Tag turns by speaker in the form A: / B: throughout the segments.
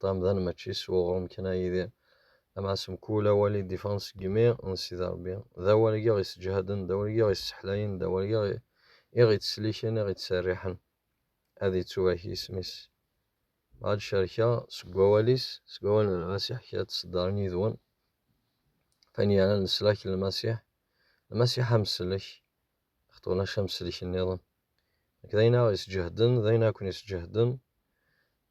A: Ṭam dan mačči s uɣrum kan a Yidir, amɛas mkul awal i d-iffɣen seg yimi n Sidi Ṛebbi, d awal i ɣ-isseǧhaden, d awal i ɣ-isseḥlayen, d awal i ɣ-ittselliken, i ɣ-ittserriḥen. Ad ittubak yisem-is. Ma ad cerkeɣ seg wawal-is, seg wawal n Lmasiḥ, kra ad t-ṣeddren yid-wen, Fayen yernan leslak n Lmasiḥ, Lmasiḥ amsellek, xeṭṭ ulac amsellek nniḍen. Nekk d ayen a ɣ-isseǧhden, d ayen a ken-isseǧhden,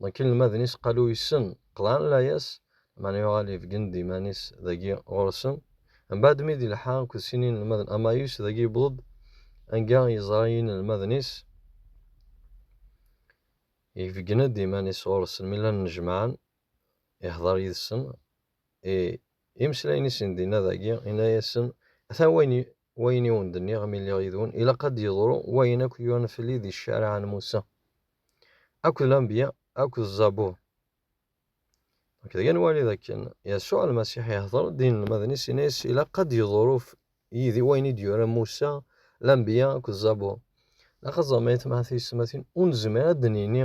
A: Donc inelmaden-is qalu yessen, qeḍɛen layas, meɛna yuɣal ibeggen-d iman-is dagi ɣur-sen. Mbaɛd mi d-ilḥa akked sin inelmaden Amayus, dagi yewweḍ-d anga yeẓra inelmaden-is, ibeggen-d iman-is ɣur-sen mi llan nnejmaɛen, ihdeṛ yid-sen, i imeslayen-is n dinna dagi, inna-yasen, atan wayen Wayen i wen-d-nniɣ mi lliɣ yid-wen, ilaq ad d-yeḍru wayen akk yuran fell-i di ccariɛa n Musa, akked Lanbeyya, akked Zzabur. Nekk dagi ad nwali d akken Yasuɛ Lmasiḥ ihder-d i yinelmaden-is, yenna-yas, Ilaq ad d-yeḍru yid-i wayen i d-yuran Musa, Lanbeyya, akked Zzabur. Ilaq ad teẓrem ay atmaten tiyessetmatin, ur nezmir ad d-nini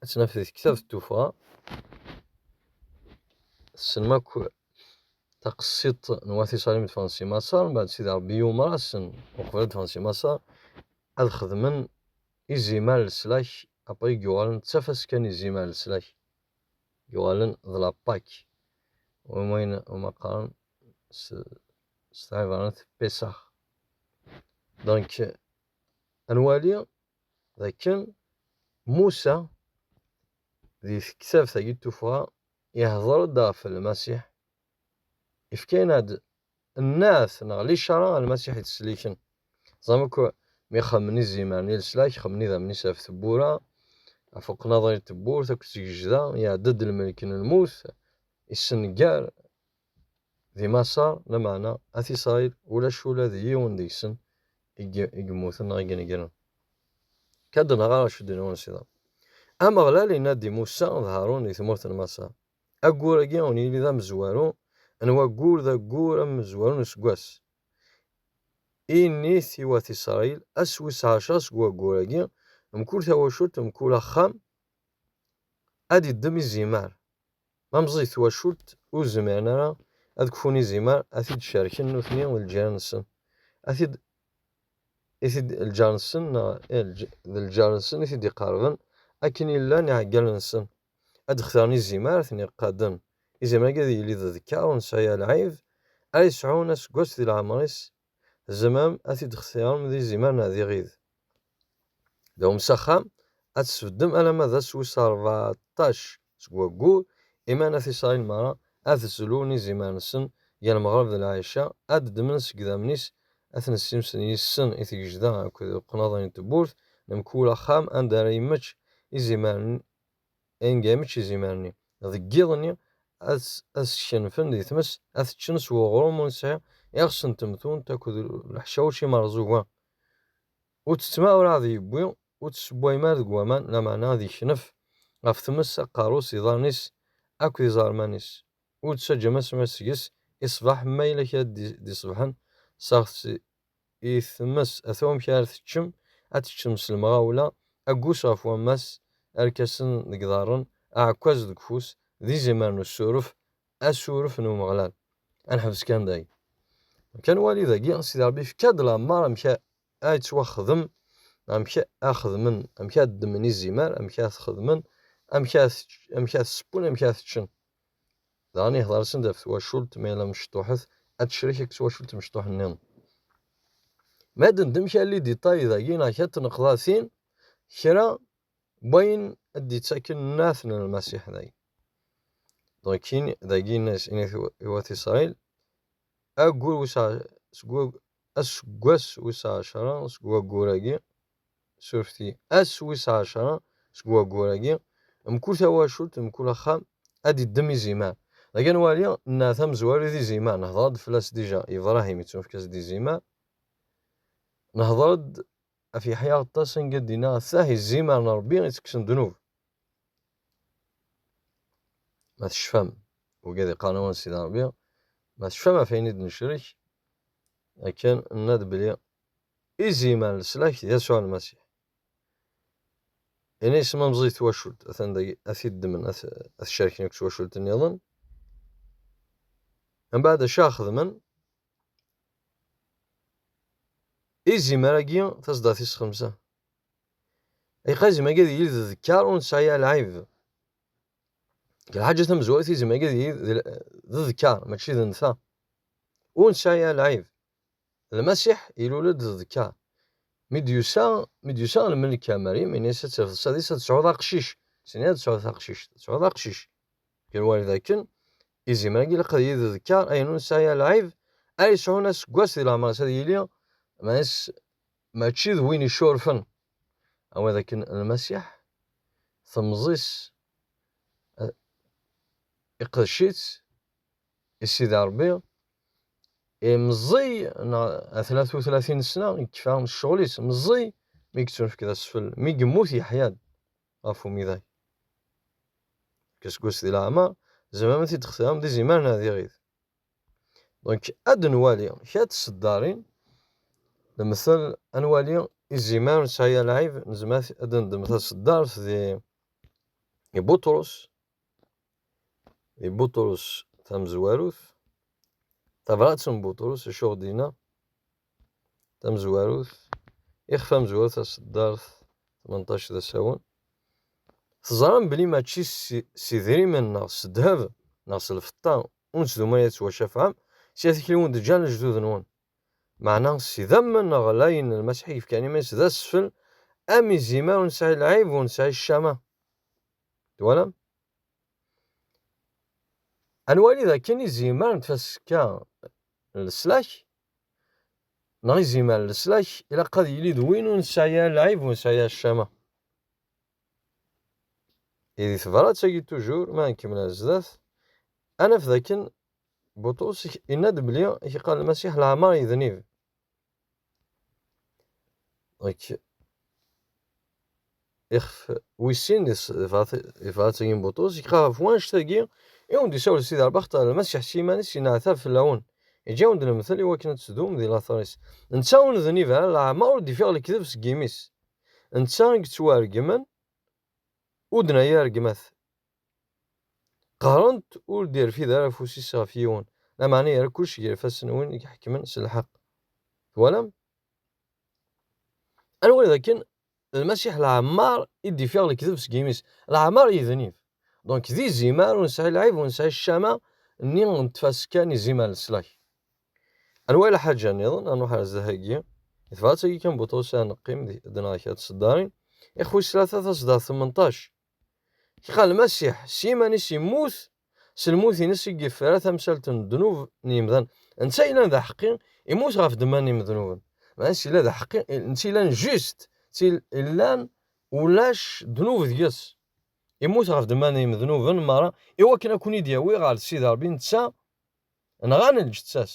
A: ad tt-naf di tektab d tuffɣa tessnem akk taqsiḍt n wat iṣalim ffɣen si maṣer mbaɛd sidi rebbi yumer-asen uqbel ad ffɣen si maṣer ad xedmen izimer leslak après i yuɣalen d tafaska n izimer leslak yuɣalen d la pak wayen uma qqaren s tɛibranit pesax donc ad nwali dakken Musa di tektabt agi tuffɣa ihder-d ɣef Lmasiḥ, ifkayen-aɣ-d nneɛt neɣ licara a Lmasiḥ yettselliken. Teẓram akk mi xemmen izimer n leslak, xemmen idammen-is ɣef tewwura, ɣef uqnaḍer n tewwurt akked tgejda, iɛedda-d lmelk n lmut, issenger Di Maṣer, lameɛna At Isṛayil ulac ula d yiwen deg-sen i yemmuten neɣ i inegren. Kkad neɣ ara cedden-wen s iḍ. Ameɣlal inna-d i Musa d Haṛun di tmurt n Maṣer, Ayyur-agi ur yili d amezwaru n waggur d aggur amezwaru n useggas. Init i Wat Isṛayil, Ass wis ɛecṛa seg waggur-agi, mkul tawacult, mkul axxam ad iddem izimar. Ma meẓẓiyet twacult, ur zmiren ara ad kfun izimer ad t-id-cerken nutni d lǧiran-nsen, ad t-id i t-id lǧar-nsen neɣ d lǧar-nsen i t-id-iqerben, akken i llan iɛeggalen-nsen, ad d-xtaren izimer ara ten-iqaden, izimer-agi ad yili d ddkeṛ ur nesɛi alɛib, ara yesɛun aseggas di leɛmer-is tzemrem ad t-id-xtirem d izimer neɣ d iɣid. Dawem s axxam, ad tesbeddem alamma d ass wis rbeɛṭac seg waggur, iman At Isṛayil merra ad zlun izimer-nsen gar lmeɣreb d lɛica, ad d-ddmen seg idammen-is, ad ten-ssimsen yis-sen i tgejda akked uqnaḍ n tewwurt n mkul axxam anda ara yemmečč izimer Inga mačči izimer-nni, deg yiḍ-nni ad s-kenfen di tmes, ad t-ččen s weɣrum ur nesɛi iɣes n temtunt akked leḥcawec imerẓuga. Ur tt-ttma ur ɛad yewwi, ur tt-ssewwayem ara deg waman, lameɛna ad yeknef ɣef tmes aqerru-s, iḍarren-is akked iẓerman-is. Ur ttaǧǧam asmas seg-s i ṣṣbeḥ, ma yella kra d-iṣebḥen, sseɣ-t i tmes ata wamek ara teččem, ad teččem s lemɣawla, aggus ɣef wammas, arkasen deg iḍarren, aɛekkaz deg ufus, d izimer n usuref, asuref n Umeɣlal. Ad neḥbes kan dagi. Amek ad nwali dagi, Sidi Ṛebbi yefka-d lameṛ amek ara yettwaxdem, amek ara xedmen, amek ara ddmen izimer, amek ara t-xedmen, amek ara t-sseppun, amek ara t-ččen. Daɣen ihḍer-asen-d ɣef twacult ma yella mecṭuḥet ad tecrek akked twacult mecṭuḥ nniḍen. Ma d ndem kra n liditay dagi neɣ kra n tneqḍatin, kra n wayen ad d-yettaken nnɛat n Lmasiḥ dagi. Dɣa kkin dagi inna-as, inna-t i wat Isṛayil, Aggur wis seg aseggas wis ɛecṛa seg waggur-agi, surfti, ass wis ɛecṛa seg waggur-agi, mkul tawacult, mkul axxam ad d-iddem izimer. Dagi ad nwali nneɛ tamezwarit izimer, nehder-d fell-as dija, Ibrahim, ittunefk-as-d izimer, nehder-d Af Yeḥya Aṭas anga d-inna atah i zzimar n Ṛebbi i ttekksen ddnub. Ma tecfam, wigi ad iqqaren awan Sidi Ṛebbi, ma tecfam ɣef ayen i d-necrek, akken nna-d belli izzimar n leslak d Yasuɛ Lmasiḥ. Ini isem amẓi i twacult, atan dagi ad t-id-ddmen ad t-cerken akk s wacult-nniḍen. Mbeɛd acu ara xedmen? Izimer-agi tasdatis xemsa. Iqazim-agi d yid d kkar ur nesɛi ara lɛib. Deg lḥaǧa tamezwarut izimer-agi d yid d ddkar mačči d nnta. Ur nesɛi ara lɛib. Lmasiḥ ilul-d d ddkar. Mi d-yusa mi d-yusa lmelk ar Maryem ini-as ad terfed sadis ad tesɛuḍ aqcic. Sini ad tesɛuḍ taqcict, ad tesɛuḍ aqcic. Ger wayeḍ akken Izimer-agi ilaq ad yili d ddkeṛ ayen ur nesɛi ara lɛib, ara yesɛun aseggas di leɛmer-is ad yili Mass mačči d win icurfen, am wid akken Lmasiḥ temẓi-s iqdec-itt i Sidi Ṛebbi, i meẓẓiy neɣ atla tutla tinesna yekfa ccɣel-is, meẓẓiy mi yettunefk d asfel, mi yemmut yeḥya-d. ɣef umiday. Kaseggas di leɛmer, zemren ad t-id-xtiram d izimer neɣ d iɣid. Donc, ad nwali kra n tseddarin, nemtel ad nwali izimer nesɛi lɛib, nezmer ad d-neddem taseddart di di Buṭrus, di Buṭrus tamezwarut, tabrat n Buṭrus, acu ɣ-d-yenna? tamezwarut, ixef amezwaru taseddart 18 d asawen. Teẓram belli mačči s idrimen neɣ s ddheb neɣ s lfeṭṭa ur nettdum ara yettwacafɛem, s yir tikli wen d-ǧǧan lejdud-nwen. Meɛna s idammen neɣ layen Lmasiḥ i yefkan iman-is d asfel, am izimer ur nesɛi lɛib ur nesɛi ccama. Twalam? Ad nwali dakken izimer n tfaska n leslak Neɣ izimer leslak ilaq ad yili d win ur nesɛi ara lɛib ur nesɛi ara ccama. I di tebrat-agi tujur, mi ara nkemmel ar zdat, ad naf dakken Buṭrus yenna-d belli i k-iqqar Lmasiḥ leɛmer yednib. ixef wis sin yebɣa-tt Agim Buṭus, yekra ɣef wanect-agi i wen-d-isawel Sidi Rbaxt ɣer Lmasiḥ s yiman-is yenneɛtab fell-awen, yeǧǧa-wen-d lemtel i wakken ad teddum di later-is. Netta ur nednib ara, leɛmeṛ ur d-ifiɣ lekdeb seg yimi-s. Netta i yettwaregmen, ur d-nerri ara gma-t. Qehren-t ur d-irfid ara afus-is ɣef yiwen, lameɛna yerra kullec gar ifassen n win i iḥekmen s lḥeqq. Twalam? Anwa dakken Lmasiḥ leɛmeṛ i d-ifiɣ lekdeb seg yimi-s, leɛmeṛ yednib. Donc d izimer ur nesɛi lɛib, ur nesɛi ccama nni n tfaska n izimer n leslak. Anwa i lḥaǧa nniḍen, ad nṛuḥ ar zdat-agi, di tebrat-agi kan Butṛus ad neqqim di, d neɣ kra n tseddaṛin, Ixwi s tlata taseddaṛt tmenṭac. Kra n lmasiḥ, s yiman-is yemmut, s lmut-ines i yefra tamsalt n ddnub n yimdan. Netta yellan d aḥeqqi, immut ɣef ddemma n yimednuben. Meɛna s yella d aḥeqqi, netta yellan just, tt-il yellan ulac ddnub deg-s. Immut ɣef ddemma n yimednuben merra, iwakken ad ken-id-yawi ɣer Sidi Rebbi, netta nɣan lǧetta-s.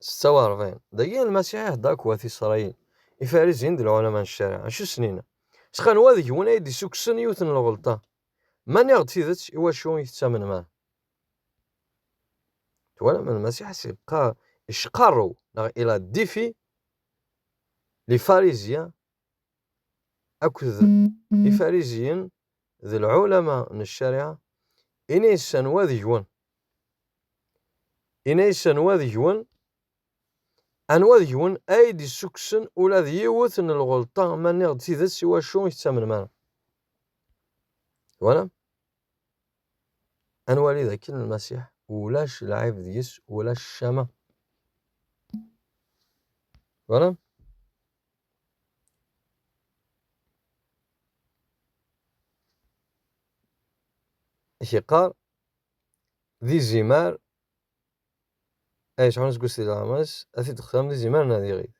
A: 46 dagi Lmasiḥ iḥedda akked Isṛayil, Ifarisiyen d lɛulama n ccariɛa, acu snin? S xanwa deg-wen ay d-issukksen yiwet n lɣelṭa. Ma nniɣ-d tidet, iwacu i tettamnem ara? Twalam, Lmasiḥ as yeqqar icqarrew, neɣ il a défi les pharisiens akked Ifarisiyen d lɛulama n ccariɛa, ini-as anwa deg-wen Inna-yas, Anwa deg-wen, anwa deg-wen ay d-issukksen ula d yiwet n lɣelṭa ma nniɣ-d tidet, iwacu i tettamnem ara? Twalam? Ad nwali dakken Lmasiḥ ulac lɛib deg-s, ulac ccama. Twalam? I t-yeqqar, d izimer ay yesɛun aseggas di leɛmer-is, ad t-id-xtiren d izimer neɣ d iɣid.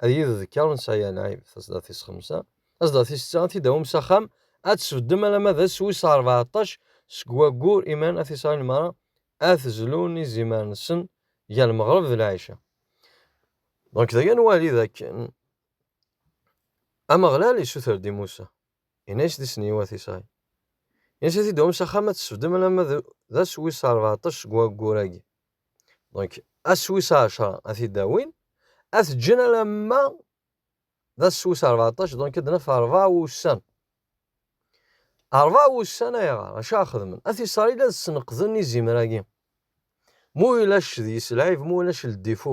A: Ad yili d kker nesɛi alɛib, taẓdart-is xemsa, taẓdart-is setta, ad t-id-awim s axxam, ad tesbeddem alamma d ass wis rbeɛṭac seg waggur iman ad t-iseɣin merra, ad t-zlun izimer-nsen gar lmeɣreb d lɛica. Dɣa dagi ad nwali dakken Ameɣlal yessuter-d i Musa. Yenna-yas-d i Sniwa At Isɛi. Yenna-yas ad t-id-tawim s axxam ad t-tesbedem alamma d ass wis rbeɛṭac seg waggur-agi. Donc, ass wis ɛecra ad t-id-awin, ad t-ǧǧen alamma d ass wis rbeɛṭac, donc ad naf rebɛa wussan. Rebɛa wussan ayɣer? Acu ara xedmen? At Isṛayil ad sneqden izimer-agi. Ma ulac deg-s lɛib, ma ulac ldifu,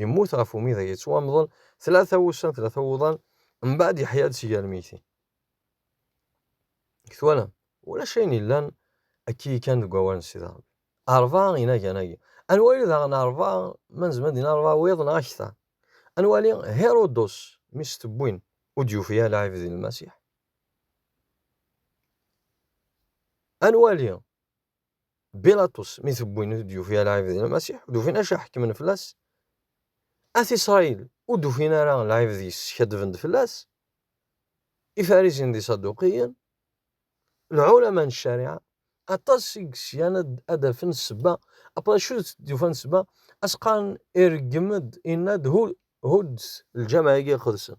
A: Yemmut ɣef umidag yettwamḍel tlata wussan, tlata wuḍan, mbaɛd yeḥya-d si gar lmeytin. Deg twalam, ulac ayen yellan akka yekkan deg wawal n Sidi Ṛebbi. Ṛebɛa inagan-agi. Ad nwali daɣen ṛebɛa, ma nezmer ad d-nini ṛebɛa wiḍ neɣ akter. Ad nwali Hiṛudus, mi s-tewwin, ur d-yufi ara lɛib di Lmasiḥ. Ad nwali Bilaṭus mi t-wwin ur d-yufi ara lɛib di Lmasiḥ, ur d-ufin acu ḥekmen fell-as. At Isṛayil ur d-ufin ara lɛib di skaddben-d fell-as. Ifarisen d Isaduqiyen, lɛulama n ccariɛa, aṭas i yesgan ad d-afen ssebba. Après acu d-ufan ssebba? As-qqaren ireggem-d, yenna-d, Hu, huddet lǧameɛ-agi iqedsen.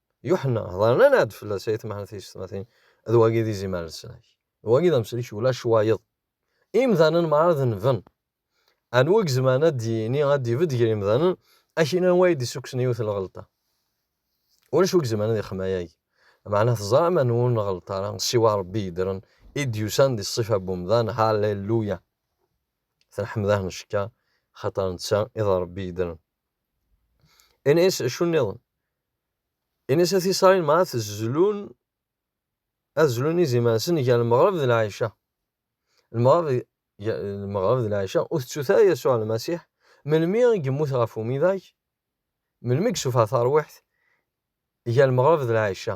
A: Yuḥenna, hḍernan-aɣ-d fell-as ay temḥel tiyessetmatin, d wagi d izimer n snag. D wagi d amsellek ulac wayeḍ. Imdanen merra d nven. Anwa i izemren ad d-yini, ad d-ibedd gar yimdanen, akin anwa ay d-issukksen yiwet n lɣelṭa? Ulac wi izemren ad ixem ayagi. Meɛna teẓram anwa ur nɣelleṭ ara, siwa Rebbi yeddren, i d-yusan di ṣṣifa n wemdan, Halleluya! Tenḥemdah ncekka, xaṭer netta i d Rebbi yeddren. Ini-as acu nniḍen. Ini-as at Isṛail ma ad zlun ad zlun iziman-nsen gar lmeɣreb d lɛica. Lmeɣreb lmeɣreb d lɛica ur tettut ara Yasuɛ Lmasiḥ melmi i yemmut ɣef umidag, melmi i yessufeɣ tarwiḥt gar lmeɣreb d lɛica.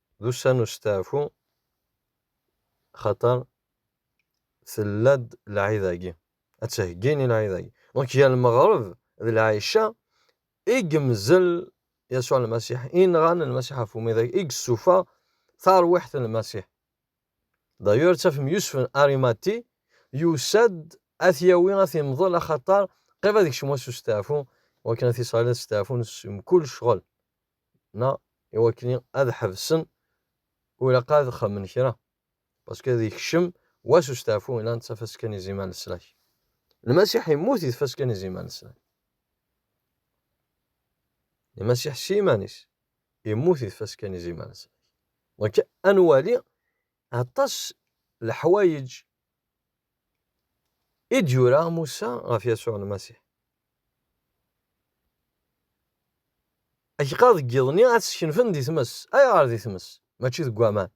A: d ussan n usteɛfu xaṭer tella-d lɛid-agi, ad ttheggin i lɛid-agi. Donc gar lmeɣreb d lɛica i yemzel Yasuɛ Lmasiḥ, i nɣan Lmasiḥ ɣef umidag, i yessufa tarwiḥt n Lmasiḥ. D'ailleurs ttafem Yusef n Arimati yusa-d ad t-yawi ad t-yemḍel axaṭer qrib ad yekcem wass usteɛfu, wakken at Isṛayil ad steɛfun s mkul ccɣel. na i wakken ad ḥebsen u ilaq ad xemen kra paske ad ikcem wass usteɛfu ilan d tafaska n izimer n leslak lmasiḥ immut i tfaska n izimer n leslak lmasiḥ s iman-is immut i tfaska n izimer n leslak donc ad nwali Aṭas n leḥwayeǧ i d-yura Musa ɣef Yasuɛ Lmasiḥ. Akk-a deg yiḍ-nni ad t-skenfen di tmes. Ayɣer di tmes, mačči deg waman?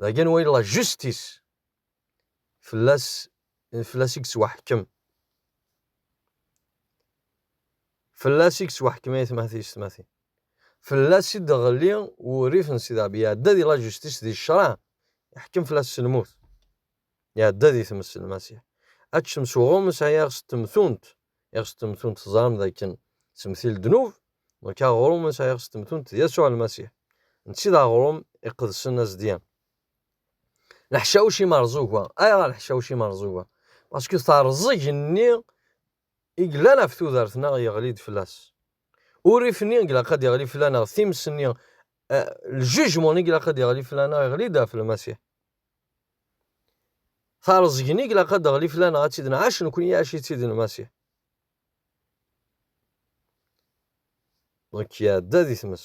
A: Dagi n way la justice, fell-as fell-as i yettwaḥkem, fell-as i yettwaḥkem ay atmaten-is tmatin. Fell-as i d-ɣelli wurrif n Sidi Rebbi, iɛedda di la justice di ccreɛ, iḥkem fell-as s lmut, iɛedda di tmes n Lmasiḥ. Aččem s uɣum isɛi iɣes n temtunt, iɣes n temtunt teẓram d akken semti ldnub, donc aɣrum isɛi iɣes n temtunt d Yasuɛ Lmasiḥ, netta i d aɣrum iqedsen azedyan. Leḥcawec imerẓuga, ayɣer leḥcawec imerẓuga? Parce que terẓeg nni i yellan ɣef tudert-nneɣ yeɣli-d fell-as. Urrif-nni i ilaq ad d-yeɣli fell-aneɣ, times-nni, ljejmun i ilaq ad d-yeɣli fell-aneɣ, iɣli-d ɣef Lmasiḥ. Tareẓgi-nni i ilaq ad d-teɣli fell-aneɣ, ad tt-id-nɛac nekkni, iɛac-itt-id Lmasiḥ. Donc iɛedda di tmes.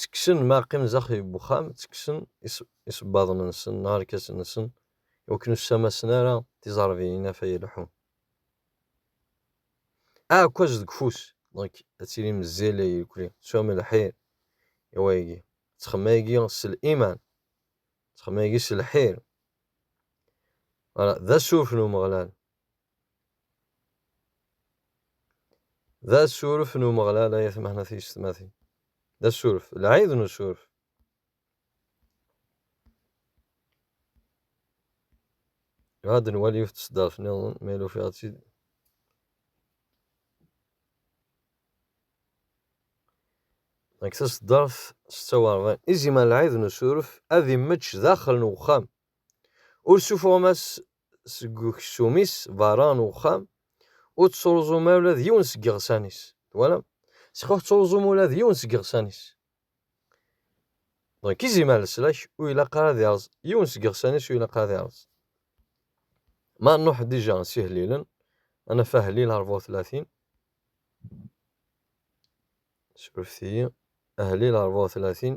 A: ttekksen mi ara qqimen daxel n wexxam, ttekksen isebbaḍen-nsen neɣ irkasen-nsen i wakken ur ssamasen ara tiẓerbiyin af ay leḥḥun. Aɛekkaz deg ufus, donc ad tilim zzil ay irkelli, teswam lḥir i wayagi, ttxemmim ayagi s liman, ttxemmim ayagi s lḥir. Voilà, d asuref n Umeɣlal. D asuref n Umeɣlal ay atmaten at yessetmatin. D asuref, lɛid n usuref. Ad nwali yiwet tseddart niḍen, ma yella ufiɣ-tt-id. Deg taseddart setta u ṛebɛin, izimer lɛid n usuref ad immečč daxel n uxxam. Ur ssufuɣem-as seg uksum-is berra n uxxam, ur ţţuṛẓum ara ula d yiwen seg iɣsan-is. Twalam? Seg ur ţţuṛẓum ula d yiwen seg iɣsan-is. Donc, izimer n leslak ur ilaq ara ad iṛẓ, yiwen seg iɣsan-is ur ilaq ara ad iṛẓ. Ma nṛuḥ dija s ihlilen, ad naf ahlil ṛebɛa u tlatin, surfet-iyi, ahlil ṛebɛa u tlatin,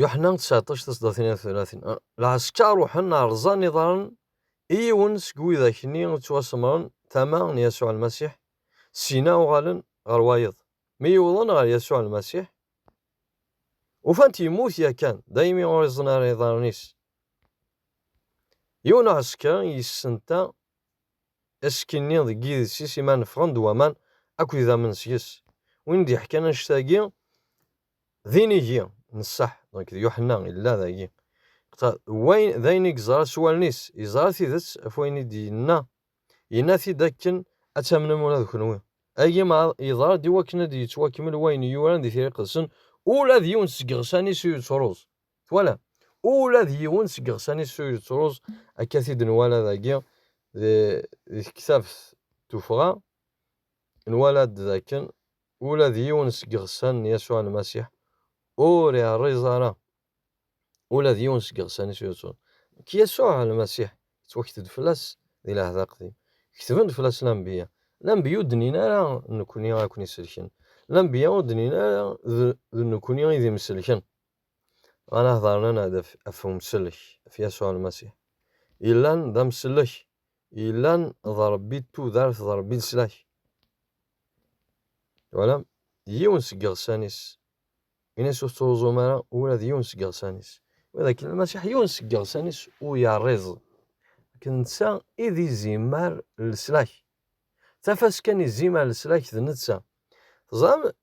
A: Yuḥna 19 tasdatin ar tlatin lɛesker ruḥen rẓan iḍaren i yiwen seg widak-nni ttwasemren tama n Yasuɛ Lmasiḥ, syin-a uɣalen ɣer wayeḍ. Mi yewḍen ɣer Yasuɛ Lmasiḥ, ufan-t yemmut yakan, daymi ur iẓen ara iḍaren-is, Yiwen uɛesker yessenta asekki-nni deg yides-is imi neffɣen-d waman akk idammen seg-s. Win d-yeḥkan annect-agi d inigi n sseḥ, nekk d Yuḥenna yella dagi. D ayen i yeẓra s wallen-is, yeẓra tidet ɣef wayen i d-yenna, yenna-t-id akken ad tamnem ula d kenwi. Agi maḍ yeḍra-d iwakken ad d-yettwakmel wayen yuran di Tira Iqedsen, ula d yiwen seg yiɣsan-is ur yettruẓ. Twalam? Ula d yiwen seg yiɣsan-is ur yettruẓ, akka t-id-nwala dagi di tektabt tuffɣa, nwala-d d akken ula d yiwen seg yiɣsan n Yasuɛ Lmasiḥ ur iɛriẓ ara, ula d yiwen seg yiɣsan-is ur yettruẓ. Nekk Yasuɛ Lmasiḥ, yettwaket-d fell-as di Lɛehd Aqdim, ketben-d fell-as lanbeyya, lanbeyya ur d-nnin ara d nekni ara ken-iselken, lanbeyya ur d-nnin ara d nekni i d imselken. Ɣanehḍaren ad af umsellek, af Yasuɛ Lmasiḥ, yellan d amsellek, yellan d Ṛebbi n tudert, d Ṛebbi n leslak. Twalam? Yiwen seg iɣsan-is. Ini-as ur tettruẓum ara ula d yiwen seg iɣsan-is. Wid akken Lmasiḥ yiwen seg iɣsan-is ur yerriẓ. Akken netta i d izimer leslak. Tafas kan izimer leslak d netta. Teẓram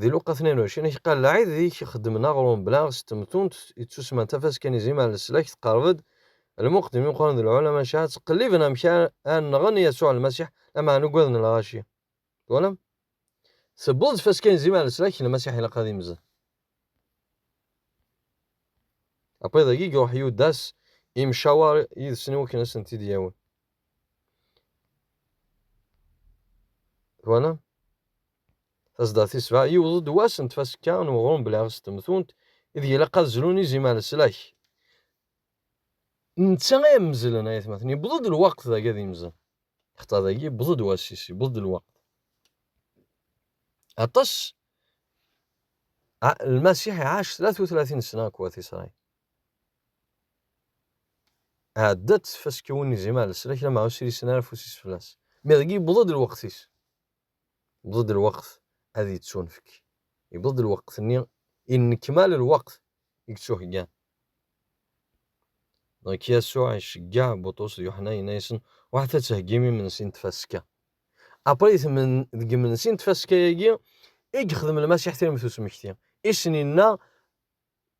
A: Di Luqa 22, i k-qqar lɛid di k-xeddmen aɣrum bla s temtunt ittusman tafaska n izim ar leslak teqreb-d, lmuqeddmin imeqqranen d lɛulama n cceɛra ttqelliben amek ara nɣen Yasuɛ Lmasiḥ lameɛna ugaden lɣaci. Twalam? Tewweḍ tfaska n izim ar leslak n Lmasiḥ ilaq ad imzen. Apayḍ-agi i iruḥ Yudas imcawer yid-sen i wakken ad asen-t-id-yawi. Twalam? Tazeddart tis sebɛa, yiweḍ-d wass n tfasekka n weɣrum belɛiɣ s temtunt ideg ilaq ad zlun izim ar leslak. D netta ay am-mezlen, ay atmaten. Yewweḍ-d lweqt dagi ad yemzel. Xaṭer dagi yewweḍ-d wass-is, yewweḍ-d lweqt. Aṭas, Lmasiḥ iɛac tlat u tlatin ssna akked wat Isṛayil. Ɛedda-d tfasekka win izim ar leslak, lameɛna ur ssirisen ara afus-is fell-as. Mi dagi yewweḍ-d lweqt-is. Yewweḍ-d lweqt ad yettunefk. Yewweḍ-d lweqt-nni inekmal lweqt i yettuheggan. Nek Yasuɛ iceggeɛ Buṭrus d Yuḥna yenna-yasen, Ruḥet ad theggim imensi n tfaska. Aprit deg yimensi n tfaska-agi i yexdem Lmasiḥ tiremt usmekti, i sen-inna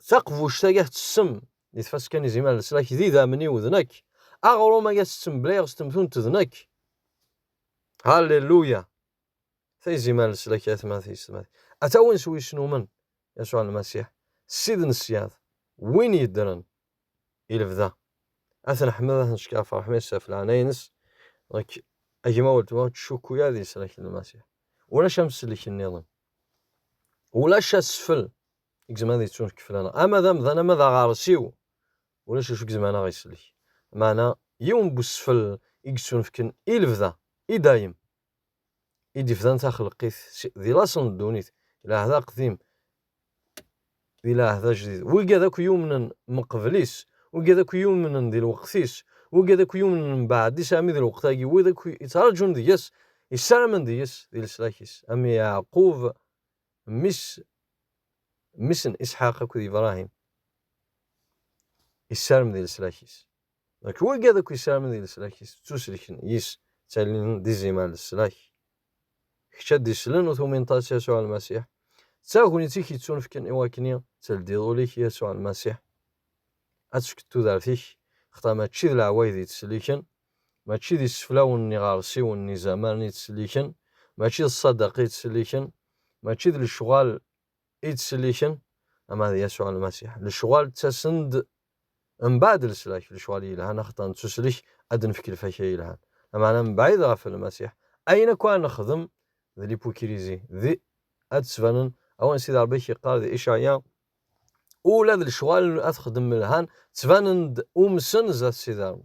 A: Taqbuct aya tettessem di tfaska n izimer n leslak d idammen-iw d nekk. Aɣrum aya ttettemeblayeɣ s temtunt d nekk. Halleluya! Ta izimer n leslak ay atmaten yessetmaten. A tawen s wis numen Yasuɛ Lmasiḥ, Ssid n ṣṣyad, win yeddren i lebda. A t-neḥmed, a t-neckeṛ ɣef ṛṛeḥma-is ɣef leɛnaya-nnes. Nekk, a gma weltma, ur ttcukkuy ara di leslak n Lmasiḥ. Ulac amsellek niḍen. Ulac asfel i izemren ad yettun keflaneɣ ama d amdan ama d aɣersiw ulac acu i izemren ad aɣ-isellek meɛna yiwen n usfel i yettunefken i lebda i dayem i d-ifdan taxelqit di laṣel n ddunit di lɛehd aqdim di lɛehd ajdid wigad akk yumnen meqbel-is wigad akk yumnen di lweqt-is wigad akk yumnen mbeɛd-is armi di lweqt-agi wid akk yettraǧun deg-s yessaramen deg-s di leslak-is am Yeɛqub Mmi-s, mmi-s n Isḥaq akked Ibrahim, isarem di leslak-is. Nek wegad akk isaramen di leslak-is, ttuselken yis, ttalin d izimer n leslak. Kečč ad d-islen u tumineḍ-as Yasuɛ Lmasiḥ, d tagnit i k-ittunefken i wakni teldiḍ ul-ik i Yasuɛ Lmasiḥ, ad tefkeḍ tudert-ik, xaṭer mačči d leɛwayed i tt-sliken, Mačči d iseflawen n yiɣersiwen n izaman i ttselliken, mačči d ṣṣadaqa i ttselliken, mačči d lecɣal i ttselliken, ama d Yasuɛ Lmasiḥ. Lecɣal ttasen-d mbeɛd leslak, lecɣal yelhan axaṭer nettuslek ad d-nefk lfakya yelhan, lameɛna mebɛid ɣef Lmasiḥ, ayen akk ara nexdem d lipukrizi, d ad d-ttbanen, awen Sidi Ṛebbi i k-yeqqar di Icaɛya, Ula d lecɣal ad t-xedmem lhan, ttbanen-d umsen zdat Sidi Ṛebbi.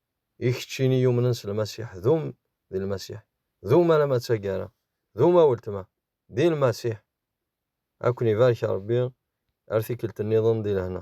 A: I keččini yumnen s Lmasiḥ, dum di Lmasiḥ, dum alamma d taggara, dum a weltma, di Lmasiḥ! Ad ken-ibarek Ṛebbi ar tikkelt-nniḍen di lehna.